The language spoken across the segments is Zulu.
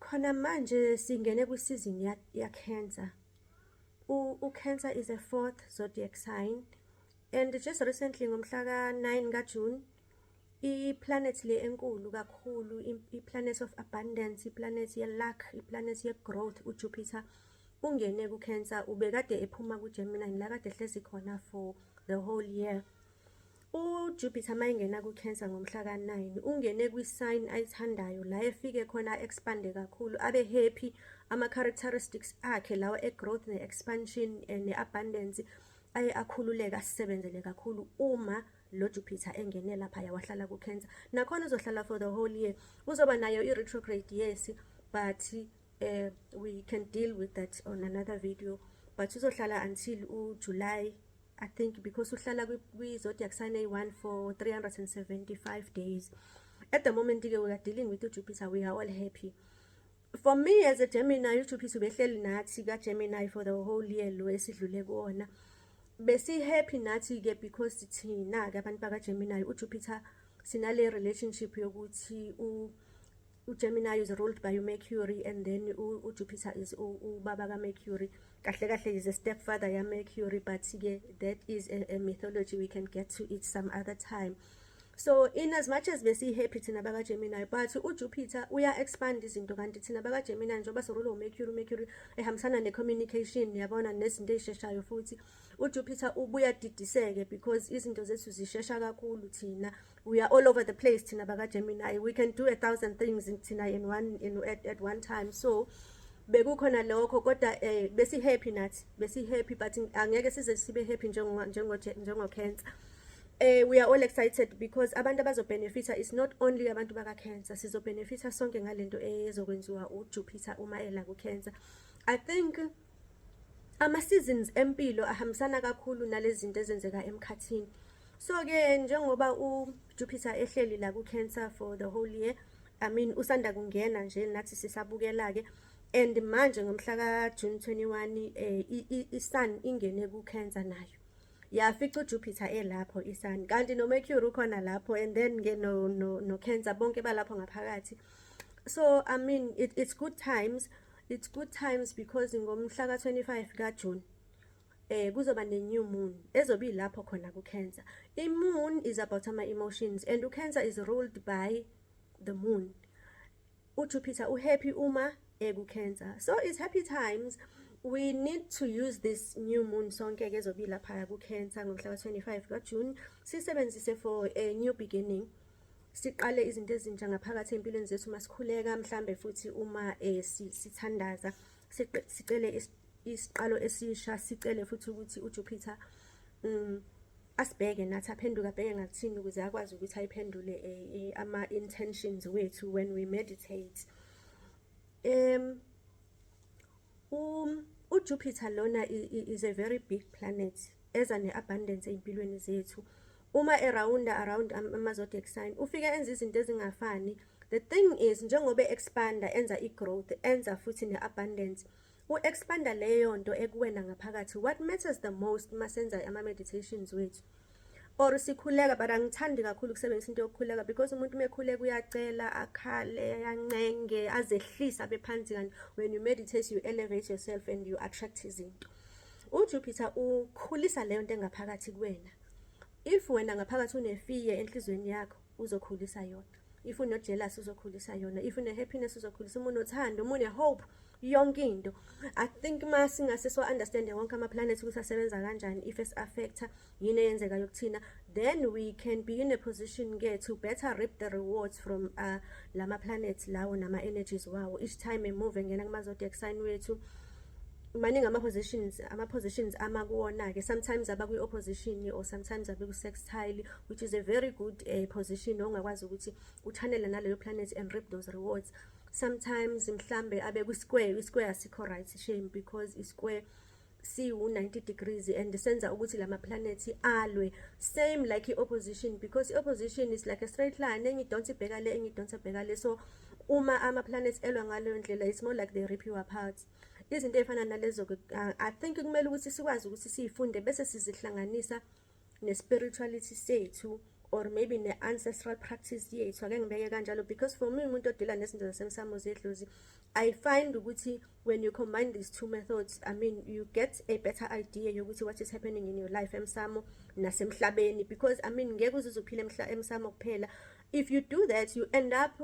khona manje singene kwisizini ya-cancer u-cancer is a fourth zodiac sign and just recently ngomhla ka-9 kajune i-planet le enkulu kakhulu i-planet of abundance i-planet ye-luck i-planet ye-growth ujupiter ungene ku-cancer ubekade ephuma kugemini la kade ehlezi khona for the whole year UJupiter uma engena ku-Cancer ngomhla ka-9 ungene kwi-sign ayithandayo la efike khona a-expande kakhulu abe happy ama-characteristics akhe lawa e-growth ne-expansion eh, ne-abundance aye akhululeka asisebenzele kakhulu uma lo Jupiter engene lapha yawahlala ku-Cancer nakhona uzohlala for the whole year uzoba nayo i-retrograde yes but uh, we can deal with that on another video but uzohlala until ujuly i think because uhlala kwi-zodiac sign eyi-one for 375 days at the moment-ke we are dealing with ujupiter we are all happy for me as a gemini ujupiter ubehleli nathi kagemini for the whole year lo esidlule kuwona besi-happy nathi-ke because thina-ke abantu bakagemini ujupiter sinale relationship yokuthi uGemini is ruled by uMercury and then uJupiter is ubaba kaMercury kahle kahle is a stepfather yaMercury but ke that is a, a mythology we can get to it some other time so in as much as besiyi-happy thina bakagemini but ujupiter uya-expand izinto kanti thina bakagemini njengoba sirule umercury umercury ehambisana ne-communication yabona nezinto ey'sheshayo futhi ujupiter ubuya didiseke because izinto zethu zishesha kakhulu thina we are all over the place thina bakagemini we can do a thousand things thina in one in, at, at one time so bekukhona lokho kodwa eh besi happy nathi besi happy but angeke size sibe happy njengo njengo njengo cancer eh we are all excited because abantu abazobenefita is not only abantu baka cancer sizobenefita sonke ngalento ezokwenziwa uJupiter uma ela ku cancer i think ama-seasons empilo ahambisana kakhulu nalezinto ezenzeka emkhathini so-ke njengoba ujupiter ehleli la ku-cancer for the whole year i mean usanda kungena nje nathi sisabukela-ke and manje ngomhla ka-june 21 eh, i-sun ingene ku-cancer nayo yafica ujupiter elapho i-sun kanti nomercury ukhona lapho and then ke no-cancer no, no bonke balapho ngaphakathi so i mean it, it's good times It's good times because ngomhla ka-25 kaJune eh kuzoba ne-new moon ezobe ilapho khona ku-cancer i-moon is about ama-emotions and u-cancer is ruled by the moon ujupiter uhappy uma eku-cancer so it's happy times we need to use this new moon sonke-ke ezobe ilaphaya ku-cancer ngomhla ka-25 kajune siyisebenzise for a new beginning siqale izinto ezintsha ngaphakathi empilweni zethu uma sikhuleka mhlambe futhi uma eh, sithandaza sicele isiqalo esisha sicele futhi ukuthi uJupiter um asibheke nathi aphenduke abheke ngakuthini ukuze akwazi ukuthi ayiphendule eh, eh, ama-intentions wethu when we meditate um Um, uJupiter lona is a very big planet eza ne-abundance ey'mpilweni zethu uma erawunda around ama-zodiac sign ufike enza izinto ezingafani the thing is njengoba e-expanda enza i-growth enza futhi ne-abundance u-expanda leyo nto ekuwena ngaphakathi what matters the most uma senza ama-meditations wethu or sikhuleka but angithandi kakhulu ukusebenzisa into yokukhuleka because umuntu uma ekhuleka uyacela akhale ayancenge azehlise abe phansi kanti when you meditate you elevate yourself and you attract izinto ujupiter ukhulisa leyo nto engaphakathi kuwena if wena ngaphakathi unefiye enhlizweni yakho uzokhulisa yona if uno jealous uzokhulisa yona if une happiness uzokhulisa uma unothando uma une hope yonke into i think ma singase so understand wonke ama planets ukuthi asebenza kanjani if es affecta yini eyenzeka yokuthina then we can be in a position ke to better reap the rewards from uh, lama planets lawo nama energies wawo each time e move ngena kuma zodiac sign wethu maningi ama-positions ama-positions ama kuwona-ke sometimes aba kwi-opposition or sometimes abe ku-sextile which is a very good uh, position ongakwazi ukuthi uchanele naleyo planet and reap those rewards sometimes mhlambe abe kwi-square i-square asikho right shame because i-square siwu-90 degrees and senza ukuthi la maplanethi alwe same like i-opposition because i-opposition is like a straight line engidonsa ibheka le engidonsa bheka le so uma ama-planets elwa ngaleyo ndlela it's more like they rip you apart izinto ey'fana nalezo-ke uh, i think kumele ukuthi sikwazi ukuthi siyifunde bese sizihlanganisa ne-spirituality sethu or maybe ne-ancestral practice yethu ake ngibeke kanjalo because for me umuntu odila nezinto zasemsamo zedlozi i find ukuthi when you combine these two methods i mean you get a better idea yokuthi what is happening in your life emsamo nasemhlabeni because i mean ngeke uzuze uphile emsamo kuphela if you do that you end up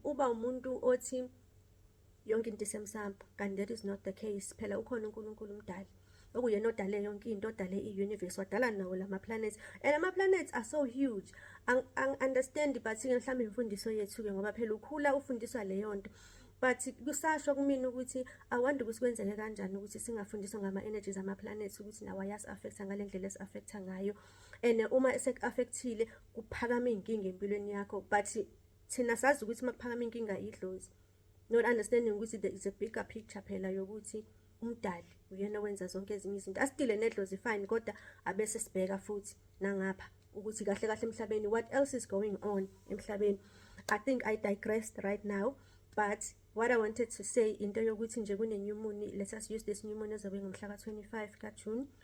uba umuntu othi yonke into isemsambo kanti that is not the case phela ukhona uNkulunkulu umdali okuyena odale yonke into odale i-universe wadala nawo lama planets and ama planets are so huge angiunderstand but ke mhlawumbe imfundiso yethu ke ngoba phela ukhula ufundiswa leyo nto but kusasho kumina ukuthi awandi ukuthi kwenzeke kanjani ukuthi singafundiswa ngama-energies ama-planets ukuthi nawo ayasi-affecta ngale ndlela esi-affecta ngayo and uma eseku-affectile kuphakama iy'nkinga empilweni yakho but thina sazi ukuthi uma kuphakama inkinga idlozi not understanding ukuthi there is a bigger picture phela yokuthi umdali uyena owenza zonke ezinye izinto asidile nedlozi fine kodwa abese sibheka futhi nangapha ukuthi kahle kahle emhlabeni what else is going on emhlabeni i think i digressed right now but what i wanted to say into yokuthi nje kune-new moon let us use this new moon ezobe ngomhla ka-25 kajune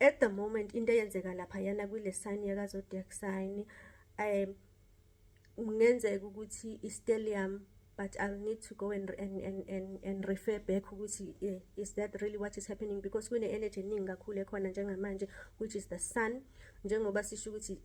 at the moment into eyenzeka lapha yana kule sign yaka zodiac sign um kungenzeka ukuthi istellium but i'll need to go and and and and, and refer back ukuthi eh, is that really what is happening because kune energy eningi kakhulu ekhona njengamanje which is the sun njengoba sisho ukuthi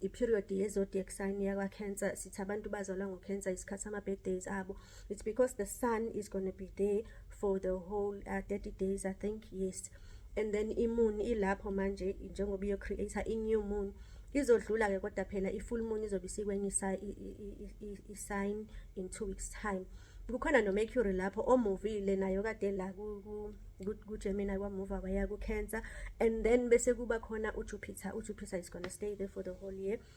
i period ye zodiac sign yakwa cancer sithi abantu bazalwa ngo cancer isikhathi ama birthdays abo it's because the sun is going to be there for the whole uh, 30 days i think yes and then imoon ilapho manje njengoba iyo creator i new moon izodlula ke kodwa phela i full moon izobe sikwenye i sign in 2 weeks time kukhona no mercury lapho o movile nayo kade la ku ku Gemini kwa move waya ku Cancer and then bese kuba khona u Jupiter u Jupiter is going to stay there for the whole year